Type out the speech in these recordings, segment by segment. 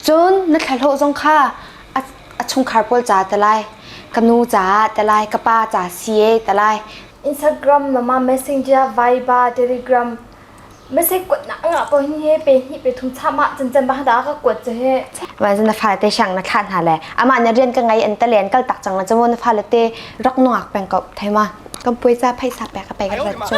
Cun na thlahlawh zong kha a, a chungkhar pawl ca te lai, ka nu caah te lai, ka pa ca si e te lai. Instagram nama messenger Viber Telegram message kuat nak ngah po hin he pe hnih pe thum cham ah chan chan ba da ka kuat che he vai zan na fa te shang na kha na le ama na rian ka ngai an ta len kal tak chang la chamo na fa le te rak nu ak peng ko thai ma kam poi sa phai sa pe ka pe ka cho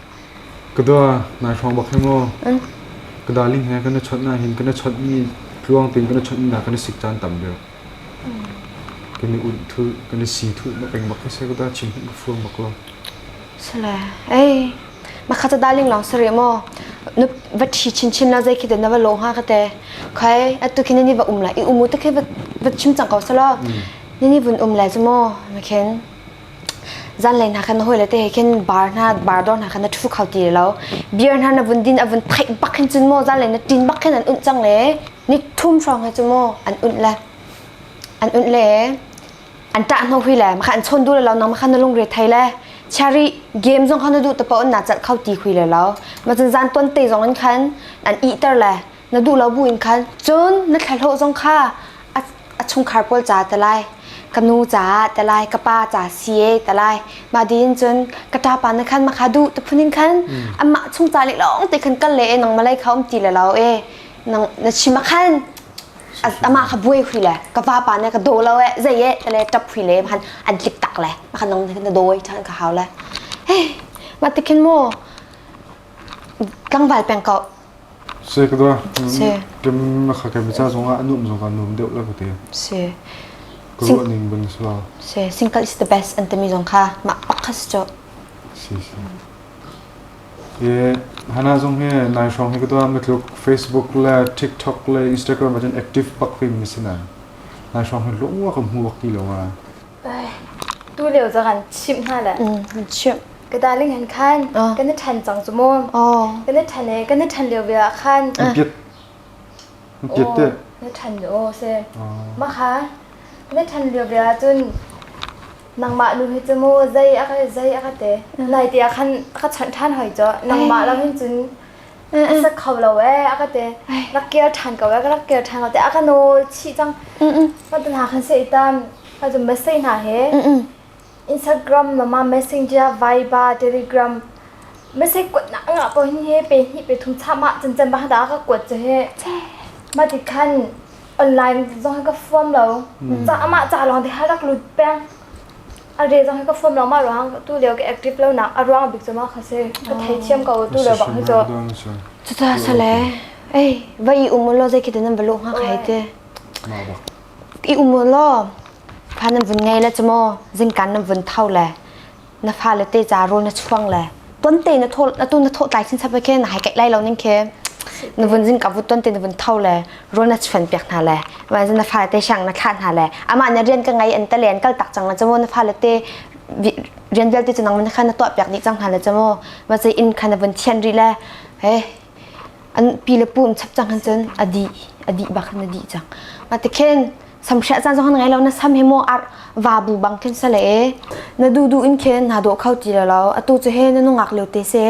Ka dua, nai hrawng bak hi maw. Ka darling he kan i chawnh na hin kan i chawntmi tluang tein kan i chawntmi dah kan i sik caan tam deuh. Kan i unh thu, kan i si thu ma peng bak hi se ka dua chim hin ka fuang bak lo. Sale, ei. Makha ta darling long sari maw. Nu va thi chin chin na zei khi te na va lo ha ka te. Khai atu khi ni va um lai i umu ta khi va chim cang ko salo. Ni ni vun um lai zu maw. Ma khin. zanlei hna khan na hawile te he khin bar hna bar dor hna khan na thu kho ti lo beer hna na vun din a vun theih bak hin cun mo zanlei na tin bak hin an unt cang le ni thum hrawng he cu mo an unt le an unt le an tah no hui le ma khan chon du le lo nang ma khan na lungre thai le chari game zong khan na du ta pa on na chat kho ti hui le lo ma chun zan ton te zong an khan an i ter le na duh lo bu in khan cun na thlahlawh zong kha a, a chungkhar pawl ca te lai ka nu ca te lai ka pa ca si e te lai mah din cun ka ta pa na khan ma kha duh te phun in khan amah chung ca le long te khan kal le e nang malai kha um ti le lo e nang na chima khan amah kha buai hui le ka va pa ne ka do lo e zai e te le tap hui le khan an tlik tak le ma kha nang na doi than ka hau le hei ma tikhin mo tlangval peng ko Kem na kha kem ca zongah a nuam zongah a nuam deuh la ka ti. Si. Ka ruah ning bang si lo. Si. Single is the best an timi zong kha mah pakkas cu. Si si. Ye hana zong he nai shong he kata matluk Facebook le TikTok le Instagram ajin active bak fim ni sina. Nai shong he lo wa ka mu wak ti lo wa. tu leo za kan chimh hna le chimh ka darling han khan kan than cang chu mu kan than e kan than leo ve khan piet piet te na than o se ma kha na than leo ve cun nangmah nu hi chu mu zai aka zai aka te nai ti khan aka chan than hoi cho nangmah lam hin cun a sak kho lo ee a ka te rak kir ṭhan ko ee ka rak kir ṭhan ko te a ka nawl chih cang pa tu hna khan se itam pa tu message hna he Instagram mama messenger viva telegram message kuat na nga po hin he pe ni pe thum cha ma chen chen ba da ka kuat che he ma ti khan online zong ka form lo cha ma cha long te harak lut peng A re zong hi ka fom lengmah ruang tu leo ka active lonak a ruang bik cu ma kha si ka thei thiam ko tu leo bak hi cu cuta sale ei va i um lo zei khi nan balu ha khai te i um lo pha nan vun ngei le chmo zin kan nan vun thau le na fale te ca rol na chuang le ton te na thol na tu na tho tlai sin sab ke na hai kai lai lo ning ke na vun jin ka vu ton te na vun thau le rol na chuan piak na le ma na fale te shang na thla na le ama na rian ka ngai an ta len kal tak chang na chamo na fale te rian vel te chunang na kha na to piak ni chang na le chamo ma sai in kha na vun thian ri le he an pi le pum chap chang han chun adi adi bak na di chang ma te khen samkhria chan zong ngai lo na sam hi mo ar va bu bang khin sale e na du du in khen na do khau ti lo atu chu he na nungak leu te se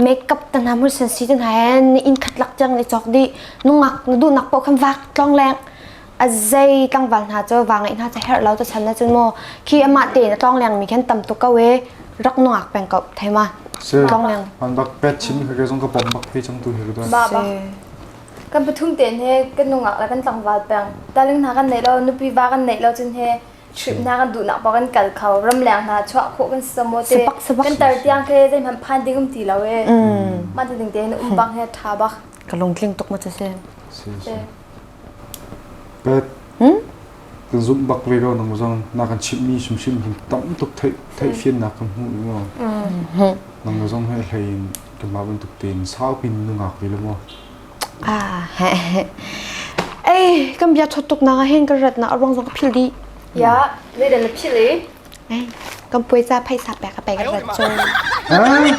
makeup ta na mun san si tan ha hen ni in khat lak chang ni chok di nungak na du nak po kham vak tlong leng azai tlangwal hna cho wa ngai hna cha her lo to san na chun mo khi ama te na tlong leng mi khen tam tu ka we rak nungak peng ko thema tlong leng man bak pet chin he zong ka bom bak phe chang tu he do ba ba kan pathum tein he kan nungak le kan tlangval peng darling hna kan neih lo nupi va kan neih lo cun he hrip hna kan duhnak pa kan kal kho ram leng hna chuah khawh kan si so maw te Sepak, sepak. kan tar tiang ke zeihmanh phan ding um ti lo e man ti ding te hin umpang he tha bak ka lungtling tuk ma cu si si si te bet kan zumh bak ve ko nang zong na kan chimh mi hrimhrim kan tam tuk theih theih fian nak kan hmu i ngo nang zong he hlei in Keimah bantuk tein saupin nungak ve lo maw? Ah, ei, kan bia thot tuk na hin kan rat na arong zong ka phil di. Ya, ne dan la phil e. Ei, kan puai za phai sa pek ka pek rat zo. Ah?